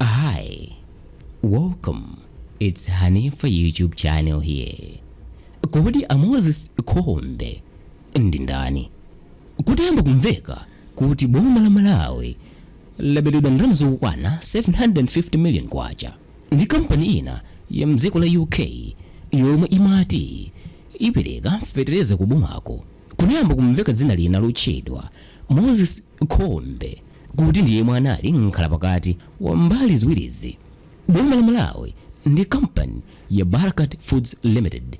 Hi, welcome. It's Hanifa YouTube channel here. Kodi a Moses Khombe ndi ndani? Kutayamba kumveka kuti boma la Malawi laberedwa ndalama zokwana 750 million kwacha ndi kampani ina ya mdziko la UK yomwe imati ipereka fetereza ku bomako. Kunayamba kumveka dzina lina lotchedwa Moses Khombe kuti ndi yemwe anali mkhalapakati wa mbali ziwirizi, boma la Malawi ndi kampani ya Barkaat Foods Limited.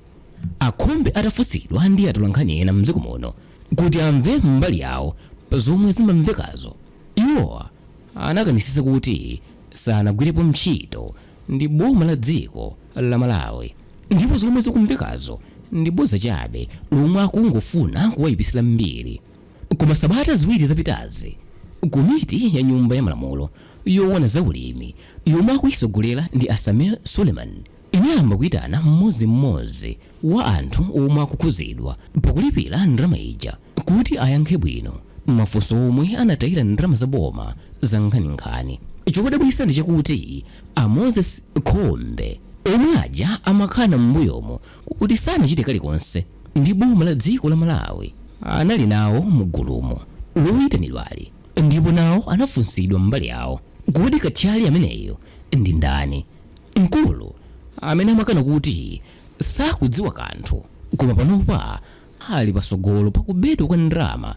A Khombe atafunsidwa ndi atolankhani ena m'dziko muno kuti amve mbali yawo pa zomwe zimamvekazo, iwo anakanisitsa kuti sanagwirepo ntchito ndi boma la dziko la Malawi ndipo zomwe zikumvekazo ndi bodza chabe lomwe akungofuna kuwayipitsira mbiri. Koma sabata ziwiri zapitazi, komiti ya Nyumba ya Malamulo yoona za ulimi yomwe akuitsogolera ndi a Sameer Suleman inayamba kuitana mmodzimmodzi wa anthu omwe akukhudzidwa pakulipira ndalama ija kuti ayankhe bwino mafunso momwe anatayira ndalama za boma zankhaninkhani. Chodabwitsa ndi chakuti a Moses Khombe, omwe aja amakana m'mbuyomu kuti sanachite kalikonse ndi boma la dziko la Malawi anali nawo mu gulumo loyitanidwali ndipo nawo anafunsidwa mbali yawo. Kodi kathyali ameneyu ndi ndani? Mkulu amene amakana kuti sakudziwa kanthu koma panopa ali patsogolo pa kubedwa kwa ndalama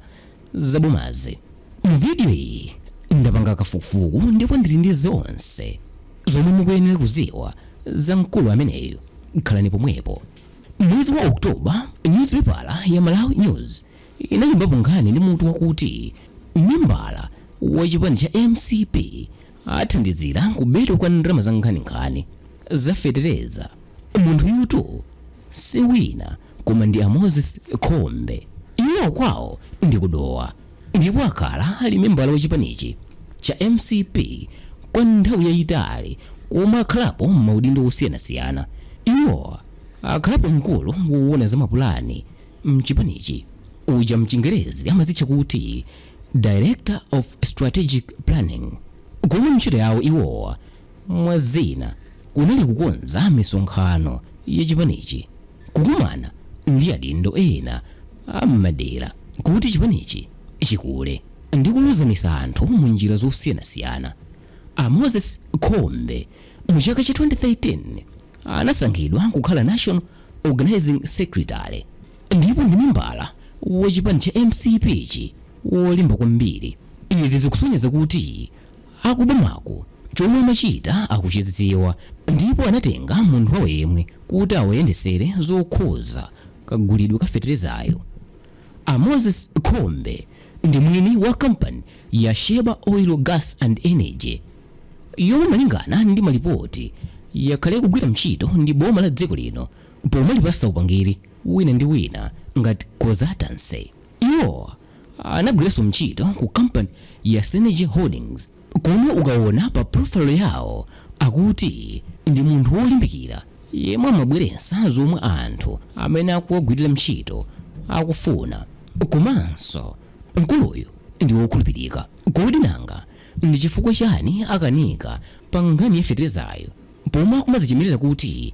za bomazi. Mu video iyi ndapanga kafukufuku ndipo ndili ndi zonse zomwe mukuyenera kuziwa za mkulu ameneyu. Khalani pomwepo. Mwezi wa October, nyuzipepala ya Malawi News inalembapo nkhani ndi mutu wakuti Membala wa chipani cha mcp athandizira kubedwa kwa ndalama za nkhaninkhani za fetereza. Munthuyutu si wina koma ndi a Moses Khombe. Iwowa kwawo ndi ku Dowa ndipo akhala ali membala wa chipanichi cha mcp kwa nthawi yayitali koma akhalapo m'maudindo osiyanasiyana. Iwo akhalapo mkulu woona za mapulani m'chipanichi uja mchingerezi amazitcha kuti Director of Strategic Planning, koma ntchito yawo iwowa, mwa zina, kunali kukonza misonkhano ya chipanichi, kukumana ndi adindo ena a m'madera kuti chipanichi chikule, ndi kuluzanisa anthu mu njira zosiyanasiyana. A Moses Khombe mu chaka cha 2013 anasankhidwa kukhala National Organizing Secretary. Ndipo ndi membala wa chipani cha mcp chi wolimba kwambiri. Izi zikusonyeza kuti aku bomaku chomwe amachita akuchidziwa ndipo anatenga munthu wawo yemwe kuti awayendesere zokhuza kagulidwe ka feterezayu. A Moses Khombe ndi mwini wa kampani ya Sheba Oil, Gas and Energy yomwe malingana ndi malipoti yakhala ikugwira mtchito ndi boma la dziko lino pomalipatsa upangiri wina ndi wina ngati consultancy iwo anagwiranso ntchito ku company ya synergy holdings komwe ukaona pa profile yawo akuti ndi munthu wolimbikira yemwe amabweretsa zomwe anthu amene akuwagwirira ntchito akufuna komanso mkuluyu ndi wokhulupirika kodi nanga ndi chifukwa chani akanika pa nkhani ya feterezayo pomwe akumadzichemerera kuti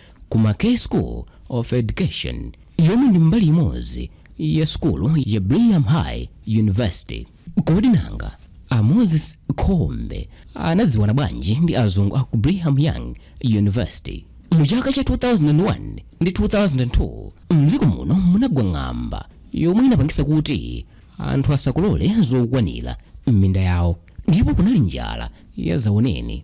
ku McKay School of Education yomwe ndi mbali imodzi ya sukulu ya Brigham High University. Kodi nanga a Moses Khombe anadziwana bwanji ndi azungu a ku Brigham Young University? Mu chaka cha 2001 ndi 2002 mdziko muno munagwa ng'amba yomwe inapangitsa kuti anthu asakolole zokwanira m'minda yawo ndipo kunali njala ya zaoneni.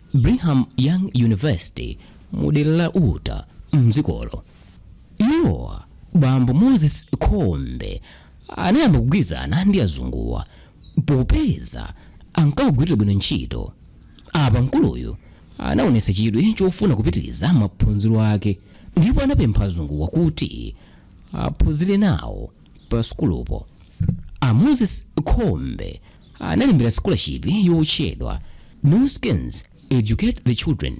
Brigham Young University mu dera la Utah m'dzikolo. Iwowa, bambo Moses Khombe, anayamba kugwirizana ndi azunguwa popeza ankawagwirira bwino ntchito. Apa mkuluyu anaonetsa chidwi chofuna kupitiriza maphunziro ake ndipo anapempha azunguwa kuti aphunzire nawo pa sukulupo. A Moses Khombe analembera scholarship yotchedwa Nu Skin's Educate the Children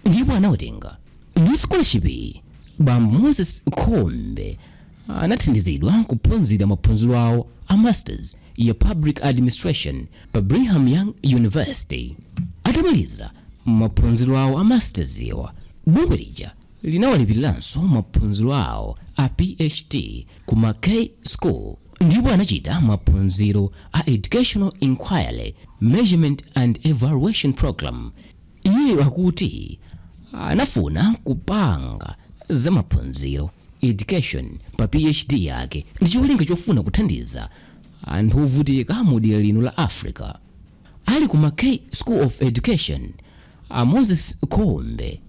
ndipo anawatenga. Ndi scholarship iyi, bambo Moses Khombe anathandizidwa kuphunzira maphunziro awo a Masters ya Public Administration pa Brigham Young University. Atamaliza maphunziro awo a Masters wa, bungwe lija linawalipiriranso maphunziro awo a PhD ku McKay School ndipo anachita maphunziro a Educational Inquiry, Measurement and Evaluation Program. Iyeyo akuti anafuna kupanga za maphunziro education pa PhD yake ndi cholinga chofuna kuthandiza anthu ovutika mu dera lino la Africa. Ali ku Mackay School of Education, a Moses Khombe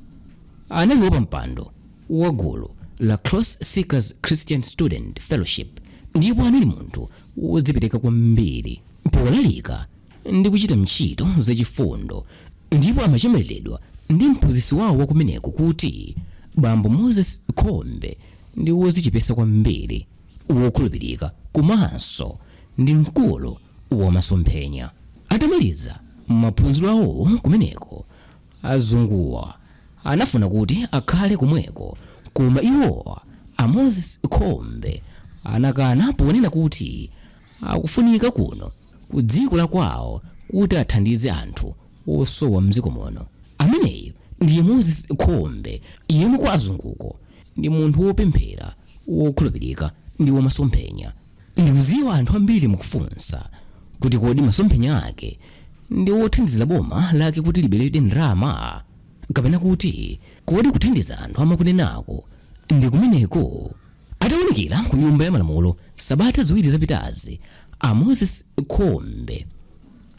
anali wapampando wa gulu la Cross Seekers Christian Student Fellowship ndipo anali munthu wodzipereka kwambiri polalika ndi kuchita ntchito zachifundo ndipo amachemeredwa ndi mphunzitsi wawo wakumeneko kuti bambo Moses Khombe ndi wodzichepetsa kwambiri wokhulupirika komanso ndi mkulu wa masomphenya. Atamaliza maphunziro awo kumeneko, azunguwa anafuna kuti akhale komweko koma iwo a Moses Khombe anakana ponena kuti akufunika kuno ku dziko la kwawo kuti athandize anthu. wosowa mdziko muno ameneyu ndiye moses khombe yemwe kwa azunguko ndi munthu wopemphera wokhulupirika ndi wamasomphenya ndikudziwa anthu ambiri mukufunsa kuti kodi masomphenya ake ndi wothandizira boma lake kuti liberedwe ndalama kapena kuti kodi kuthandiza anthu amakunenako ndi kumeneko atawonekera ku nyumba ya malamulo sabata ziwiri zapitazi a moses khombe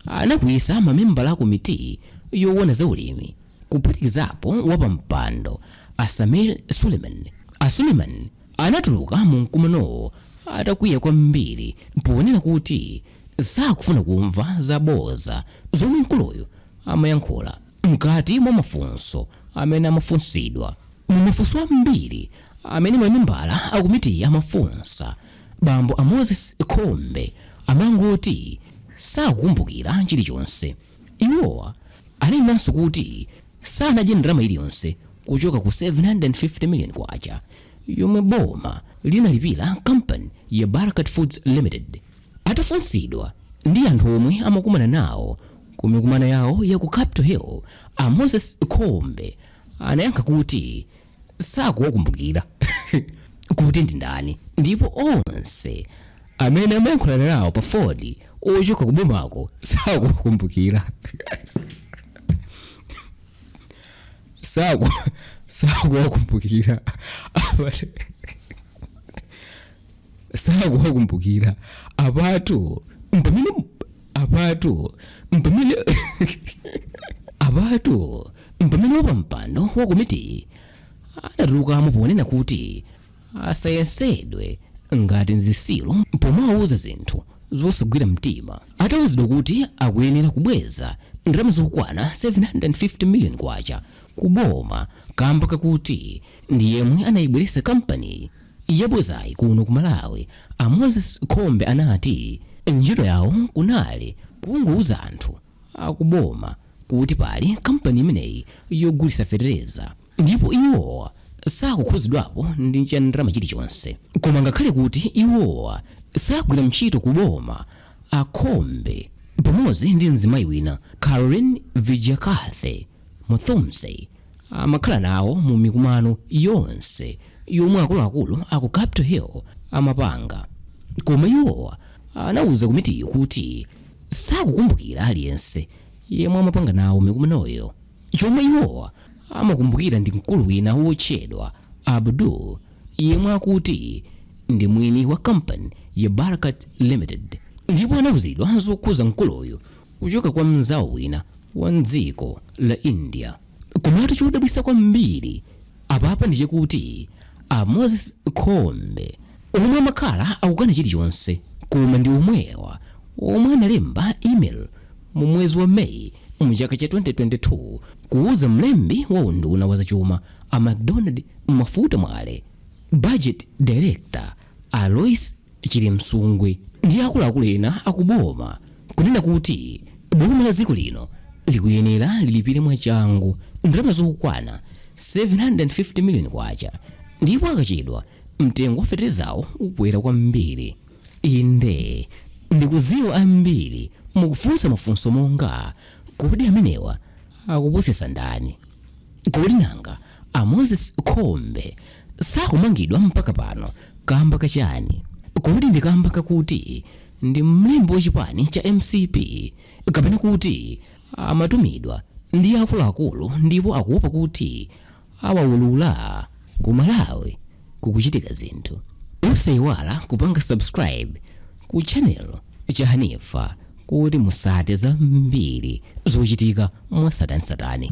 anakwiyitsa mamembala a komiti yoona za ulimi kuphatikizapo wapampando a Sameer Suleman. A Suleman anatuluka mu mkumanowo atakwiya kwambiri ponena kuti sakufuna kumva zabodza zomwe mkuluyu amayankhula mkati mwa mafunso amene amafunsidwa. Mu mafunso ambiri amene mamembala a komiti amafunsa Bambo a Moses Khombe amangoti sakukumbukira chilichonse. Iwo anenanso kuti sanadye ndalama iliyonse kuchoka ku 750 million kwacha yomwe boma linalipira kampani ya Barkaat Foods Limited. Atafunsidwa za anthu omwe amakumana nawo ku mikumano yawo ya ku Capital Hill, a Moses Khombe anayankha kuti, sakuwakumbukira kuti ndi ndani ndipo onse amene amayankhulana nawo pa foni ochoka kubomako sakuwakumbukira saku sakuwakumbukira Apa- sakuwakumbukira apatu mpamene apatu mpamene apatu mpamene wapampando wa komiti anatulukamo ponena kuti asayesedwe ngati nzitsiru pomawuza zinthu zosagwira mtima atawuzidwa kuti akuyenera kubweza ndalama zokwana 750 million kwacha kuboma kamba kakuti ndi yemwe anayibweretsa kampani Yabuzayi kuno ku Malawi a Moses Khombe anati ntchito yawo kunali kungouza anthu akuboma kuti pali kampani imeneyi yogulitsa fetereza ndipo iwowa sakukhudzidwapo ndi cha ndalama chilichonse koma ngakhale kuti iwowa sagwira ntchito ku boma a Khombe pamodzi ndi mzimayi wina Carolyn Vidyakathy Muthomse amakhala nawo mu mikumano yonse yomwe akuluakulu a ku Capital Hill amapanga. Koma iwowa anauza komitiyo kuti sakukumbukira aliyense yemwe amapanga nawo mikumanoyo. Chomwe iwowa amakumbukira ndi mkulu wina wotchedwa Abdul yemwe akuti ndi mwini wa kampani ya Barkaat Limited ndipo anauzidwa zokhuza mkuluyu kuchoka kwa mnzawo wina wa mdziko la India. Komatu chodabwitsa kwambiri apapa ndi chakuti a Moses Khombe omwe amakhala akukana chilichonse koma ndi omwewa omwe analemba email mu mwezi wa May mu chaka cha 2022 kuuza mlembi wa unduna wa zachuma a McDonald Mafuta Mwale, budget director a Loyce Chilimsungwi ndi akuluakulu ena akuboma kunena kuti boma la dziko lino likuyenera lilipire mwachangu ndalama zokwana 750 miliyoni kwacha ndipo akachedwa mtengo wa feterezawo ukwera kwambiri inde ndikudziwa ambiri mukufunsa mafunso monga kodi amenewa akupusitsa ndani kodi nanga A Moses Khombe sakumangidwa mpaka pano kamba ka chani? Kodi ndi kamba kakuti ndi mlembi wa chipani cha mcp kapena kuti amatumidwa ndi akuluakulu ndipo akuopa kuti awaulula? Ku Malawi kukuchitika zinthu osayiwala kupanga subscribe ku channel cha hanifa kuti mutsate zambiri zochitika mwatsatanetsatane